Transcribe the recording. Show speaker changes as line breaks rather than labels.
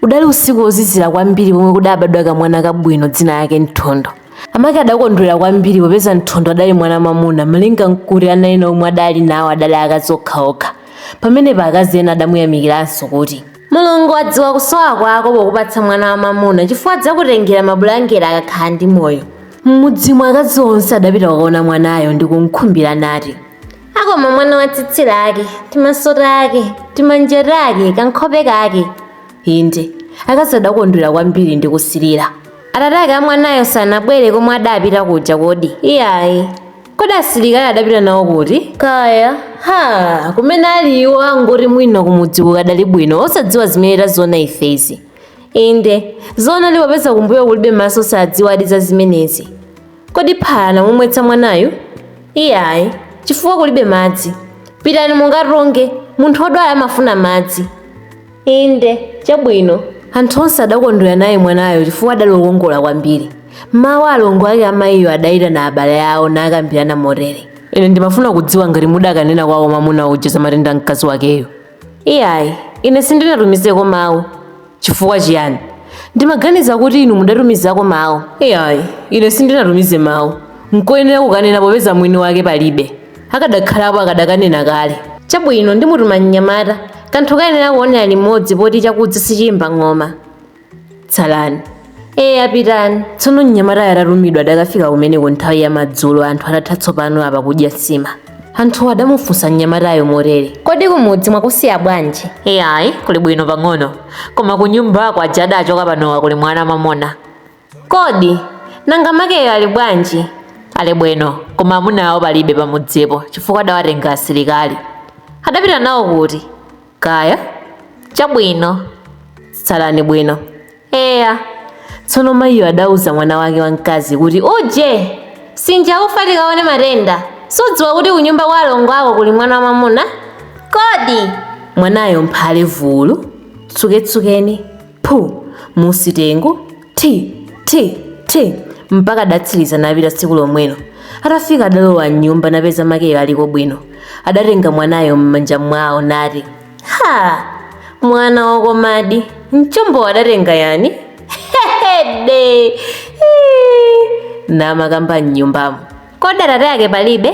Udali usiku wozizira kwambiri pomwe kudabadwa kamwana kabwino dzina yake Nthondo. Amake adakondwera kwambiri popeza Nthondo adali mwana mamuna malinga nkuti ana ena omwe adali nawo adali akazi okhaokha. Pamenepa akazi ena adamuyamikiranso kuti. Mulungu wadziwa kusowa kwako pokupatsa mwana wamamuna chifukwa adzakutengera mabulangeti akakhala ndi moyo. M'mudzimo akazi onse adapita kukaona mwanayo ndi kumkhumbira nati. wakoma mwana wa tsitsi lake timaso take timanja take kankhope kake inde akazi adakondwera kwambiri ndi kusilira atate ake amwanayo sanabwere komwe adapita kuja kodi iyayi kodi asilikali adapita nawo kuti kaya ha kumene ali iwo angoti mwina kumudzi kukadali bwino osadziwa zimene taziona ifezi inde zoona di popeza kumbuyo kulibe maso sadziwadi za zimenezi Kodi phala anamumwetsa mwanayu? Iyayi, chifukwa kulibe madzi. Pitani mukatunge, munthu wodwala amafuna madzi. Inde, chabwino. Anthu onse adakondwera naye mwanayo chifukwa adali wokongola kwambiri. M'mawa alongo ake a mayiyo adaitana abale awo nakambirana motere. Ine ndimafuna kudziwa ngati mudakanena kwawo mamuna uja za matenda a mkazi wakeyu. Iyayi, ine sindinatumizeko mawu. Chifukwa chiyani? Ndimaganiza kuti inu mudatumizako mawu. Iyayi, ine sindinatumize mawu. Nkoyenera kukanena popeza mwini wake palibe. Akadakhalapo akadakanena kale. Chabwino, ndimutuma mnyamata. Kanthu kayenera kuonera limodzi poti chakudza sichiyimba ng'oma. tsalani eya pitani tsono mnyamatayo atatumidwa adakafika kumeneko nthawi ya madzulo anthu atatha tsopano apa kudya nsima anthuwo adamufunsa mnyamatayo motere kodi kumudzi mwakusiya bwanji iyayi kuli bwino pang'ono koma kunyumba kwa aja adachoka panowa kuli mwana mamuna kodi nanga makeyo ali bwanji ali bwino koma amuna awo palibe pamudzipo chifukwa adawatenga asilikali adapita nawo kuti Kaya. Chabwino. Tsalani bwino. Eya. Tsono mayiyo adauza mwana wake wamkazi kuti, Uje! Sinja ufa tikaone matenda. Sudziwa kuti kunyumba kwa alongo ako kuli mwana wamamuna? Kodi! Mwanayo mphale vulu. Tsuketsukeni. phu musi tenge ti ti ti mpaka adatsiriza napita tsiku lomwelo atafika adalowa mnyumba napeza makeyo aliko bwino adatenga mwanayo m'manja mwawo nati ha mwana wakomadi mchombo adatenga yani hede namakamba mnyumbamo kodi atate ake palibe